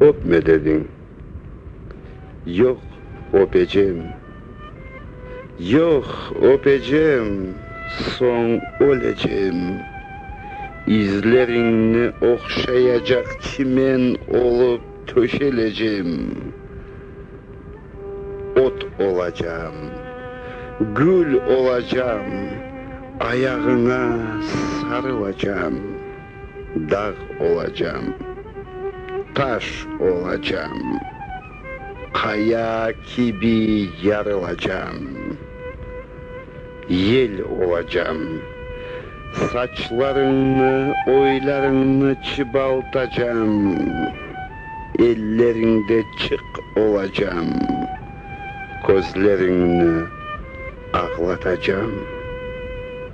Öpme dediñ. Yoq, öpecem. Yoq, öpecem, soñ ölecem. İzleriñni oqşayacaq çimen olıp töşelecem. Ot olacam, gül olacam, ayağıña sarılacam. Dağ olacam, taş olacam, qaya kibi yarılacam. Yel olacam, saçlarıñnı, oylarıñnı çıbaltacam, elleriñde çıq olacam, közleriñni ağlatacam.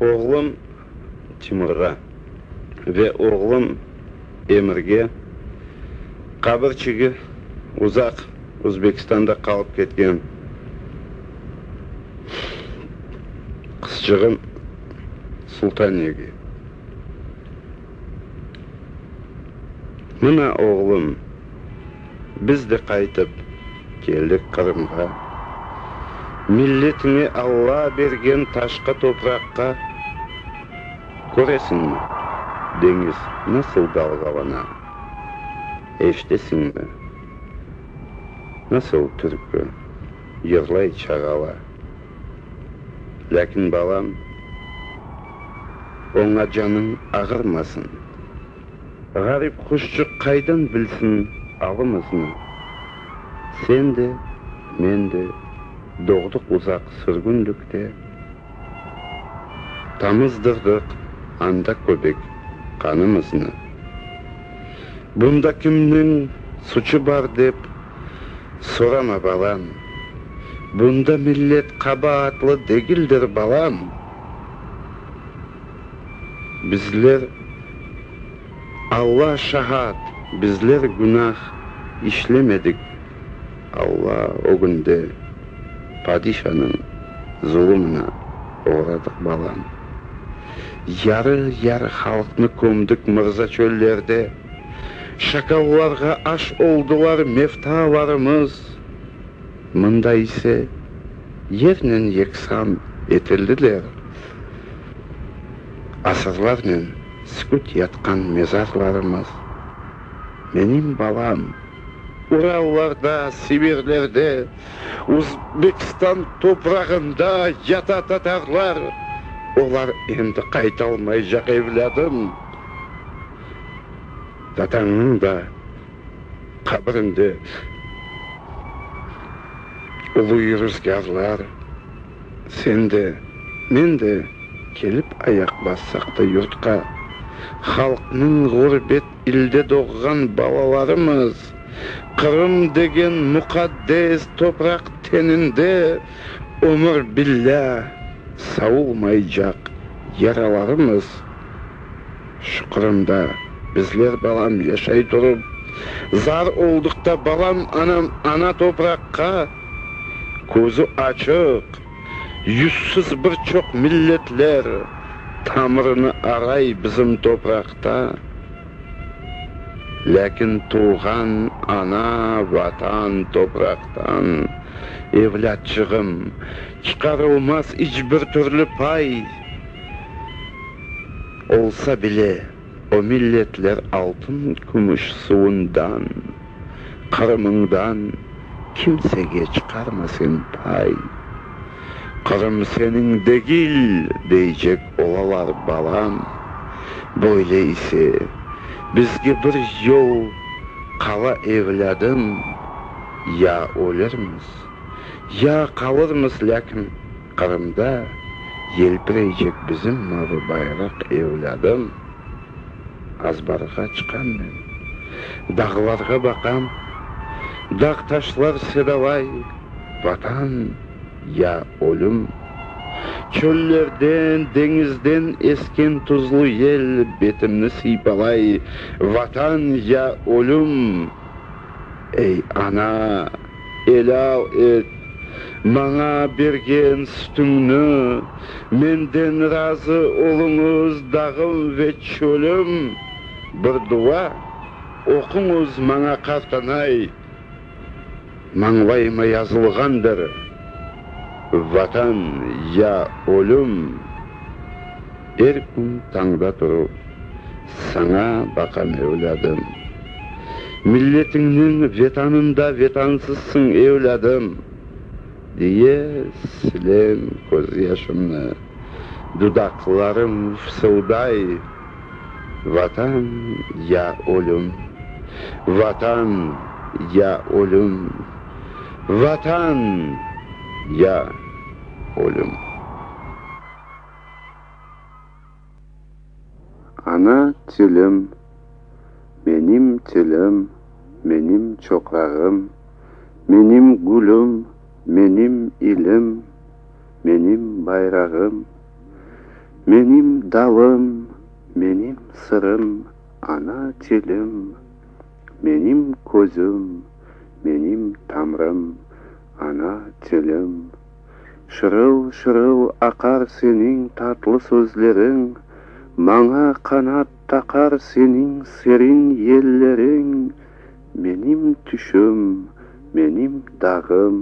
Oğlum Timurğa ve oğlum Emirge qabir çigi uzaq Uzbekistanda qalıp ketken qızcığım Sultaniyege. Mına oğlum. Biz de qaytıp keldik Qırımğa, milletime Alla bergen taşqa topraqqa. Köresiñmi, deñiz nasıl dalğalana, eşitesiñmi, nasıl türkü yırlay çağala. Lâkin, balam, oña canıñ ağırmasın. Ğarip quşçıq qaydan bilsin avımıznı? Sen de, men de doğdıq uzaq sürgünlikte, Tamızdırdıq anda köbek qanımıznı. Bunda kimniñ suçu bar dep sorama, balam, Bunda millet qabaatlı degildir, balam. Bizler, Alla şahat, bizler günah işlemedik. Alla ögünde padişanıñ zulumına oğradıq, balam. Yarı-yarı halqnı kömdik mırza çöllerde, şakallarğa aş oldılar mevtalarımız. Mında ise yernen yeksan etildiler. Asırlarnen süküt yatqan mezarlarımız, menim balam. Urallarda, Sibirlerde, Uzbekistan toprağında yata tatarlar, olar endi qaytalmaycaq, evlâdım. Dadañnıñ da qabrinde uluy ruzgârlar. Sen de, men de kelip ayaq bassaq da yurtqa, halqnıñ ğurbet ilde doğğan balalarımız, Qırım degen muqaddes topraq teninde ömür billâ savulmaycaq yaralarımız şuqrında bizler balam yaşay turıp, zar oldıqta balam anam ana topraqqa, közü açıq, yüzsüz bir çoq milletler tamırını aray bizim topraqta, lâkin tuvğan ana Vatan topraqtan, evlâtçığım, çıqarılmaz iç bir türlü pay, olsa bile o milletler altın-kümüş suvundan. Qırımıñdan kimsege çıqarma sen pay. Qırım seniñ degil, deycek olalar, balam. Böyle ise, bizge bir yol qala, evlâdım, ya ölürmiz, ya qalırmız, lâkin Qırımda yelpireycek bizim mavı bayraq, evlâdım. Azbarğa çıqam men, dağlarğa baqam, Dağ-taşlar sedalay, Vatan ya ölüm. Çöllerden, deñizden esken tuzlu yel Betimni sıypalay, Vatan ya ölüm. Ey, ana! Elâl et maña bergen sütüñni, menden razı oluñız, dağım ve çölüm, bir dua oquñız maña, qartanay, mañlayıma yazılğandır, Vatan ya ölüm. Er kün tañda turıp, saña baqam, evlâdım. Milletiñniñ vetanında vetansızsıñ, evlâdım! diye silem közyaşımnı, dudaqlarım fısılday, Vatan ya ölüm! Vatan ya ölüm! Vatan ya ölüm! Ana tilim, menim tilim, menim çoprağım, menim gülüm, menim ilim, menim bayrağım, menim dalım, menim sırım, ana tilim, menim közüm, menim tamrım, ana tilim. Şırıl-şırıl aqar seniñ tatlı sözleriñ, Maña qanat taqar seniñ serin yelleriñ. Menim tüşüm, menim dağım,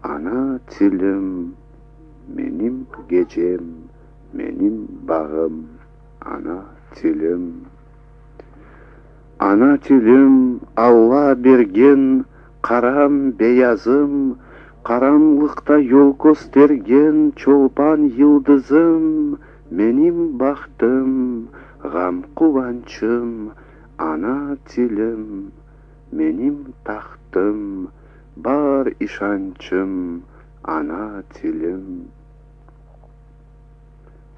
ana tilim, Menim gecem, menim bağım, ana tilim. Ana tilim, Alla bergen Qaram, beyazım, qaranlıqta yol köstergen çolpan yıldızım, menim bahtım, ğam-quvançım, ana tilim, menim tahtım, bar işançım, ana tilim.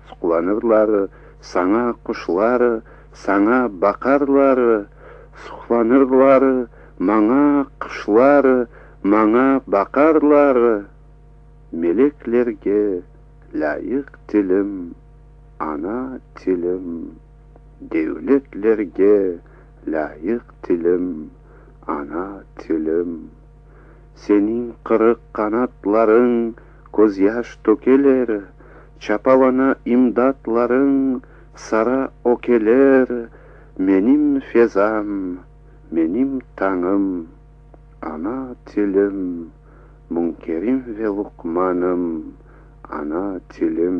Suqlanırlar, saña quşlar, saña baqarlar, Suqlanırlar, maña quşlar, maña baqarlar, Meleklerge lâyıq tilim, ana tilim, Devletlerge lâyıq tilim, ana tilim. Seniñ qırıq qanatlarıñ közyaş tökeler, Çapalana imdatlarıñ sara ökeler, Menim fezam, menim tañım, ana tilim, Münkerim ve Luqmanım, ana tilim.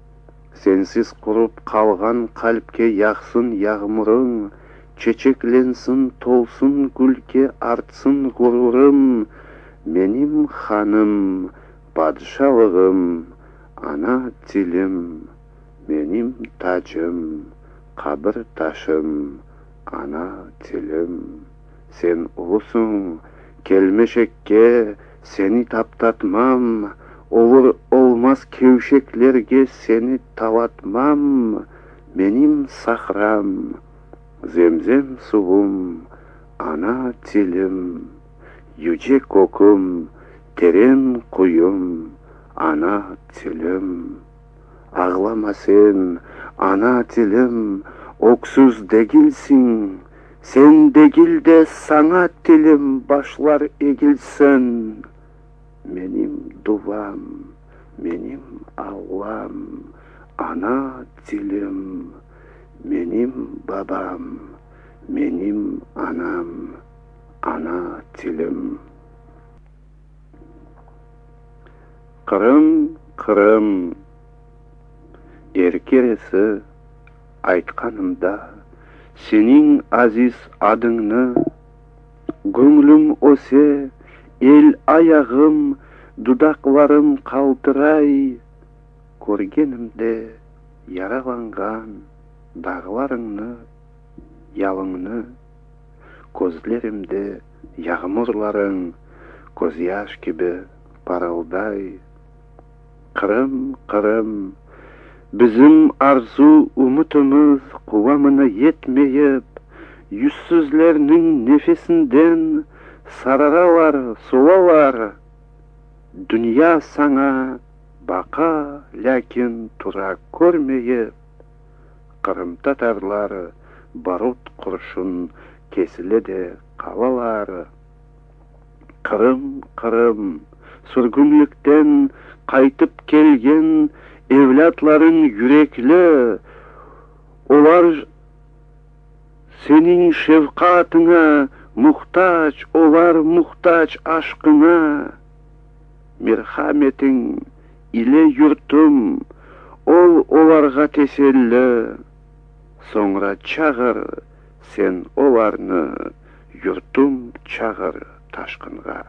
Sensiz qurıp qalğan qalpke yağsın yağmurıñ, Çeçeklensin, tolsun gülke, artsın ğururım, Menim hanım, padişalığım, ana tilim, Menim tacım, qabir taşım, ana tilim. Sen ulusıñ, kelmecekke seni taptatmam, olur olmaz kevşeklerge seni talatmam, menim sahram, zemzem suvum, ana tilim, yüce köküm, teren quyum, ana tilim. Ağlama sen, ana tilim, öksüz degilsiñ, Sen degil de saña tilim başlar egilsin. Menim duvam, menim Allam, ana tilim, Menim babam, menim anam, ana tilim. Qırım, Qırım! Er keresi aytqanımda seniñ aziz adıñnı, Göñlüm öse, el ayağım, dudaqlarım qaltıray, Körgenimde yaralanğan dağlarıñnı, yalıñnı, Közlerimde Yağmurlarıñ közyaş kibi parılday. Qırım, Qırım, bizim arzu-ümütimiz quvamına yetmeyip, yüzsüzlerniñ nefesinden sararalar, solalar. Dünya saña baqa, lâkin tura körmeyip, Qırımtatarlar barut qurşun kesile de qalalar. Qırım, Qırım, sürgünlikten qaytıp kelgen evlâtlarıñ yürekli, olar seniñ şefqatıña muhtac, olar muhtac aşqıña, merhametiñ, İle yurtum, ol olarğa teselli, Soñra çağır sen olarnı, yurtum, çağır taşqınğa.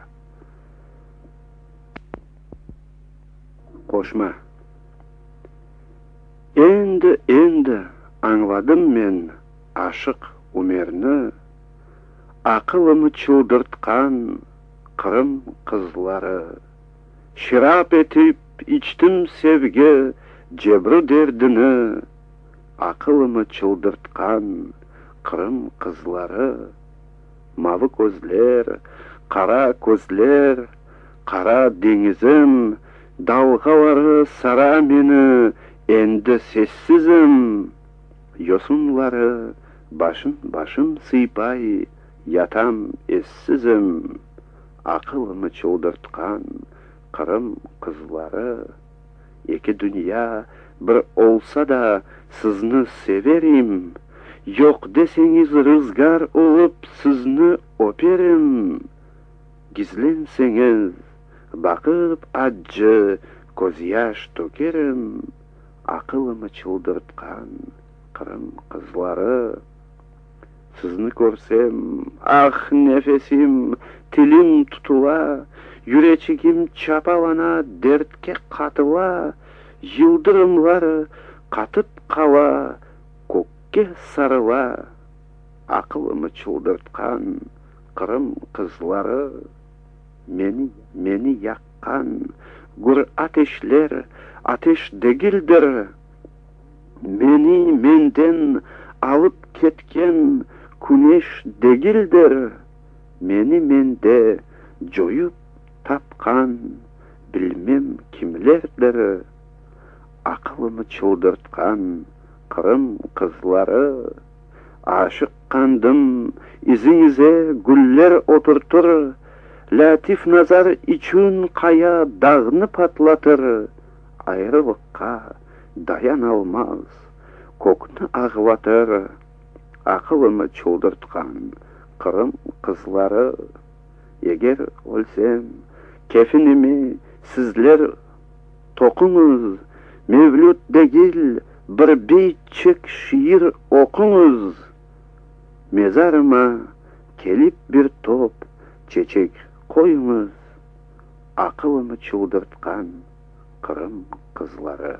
Qoşma. Endi, endi añladım men Aşıq Ümerni, Aqılımı çıldırtqan Qırım qızları. Şırap etip içtim sevgi cebru derdini, Aqılımı çıldırtqan Qırım qızları. Mavı közler, qara közler, qara deñizim, Dalğaları sara meni, endi sessizim. Yosunları başın-başım sıypay, yatam essizim. aqılını çıldırtqan Qırım qızları, eki dünya bir olsa da sizni severim, yoq deseñiz rızgar olıp sizni öperim, gizlenseñiz baqıp accı közyaş tökerim, aqılımı çıldırtqan Qırım qızları. Sizni körsem, ah, nefesim, tilim tutula, yüreçigim çapalana, dertke qatıla, yıldırımlar qatıp qala, kökke sarıla. Aqılımı çıldırtqan Qırım qızları, meni, meni yaqqan gür ateşler, ateş degildir. Meni menden alıp ketken küneş degildir, meni mende coyup tapqan bilmem kimlerdir, aqılımı çıldırtqan Qırım qızları. Aşıqqandım iziñize güller oturtır, Lâtif-Nazar içün qaya dağnı patlatır, Ayrılıqqa. dayanalmaz, kökni ağlatır, aqılını çıldırtqan Qırım qızları, eger ölsem, kefinimi sizler toquñız, mevlüt degil, bir beytçik şiir oquñız, mezarıma kelip bir top çeçek qoyuñız. Aqılımı çıldırtqan Qırım qızları.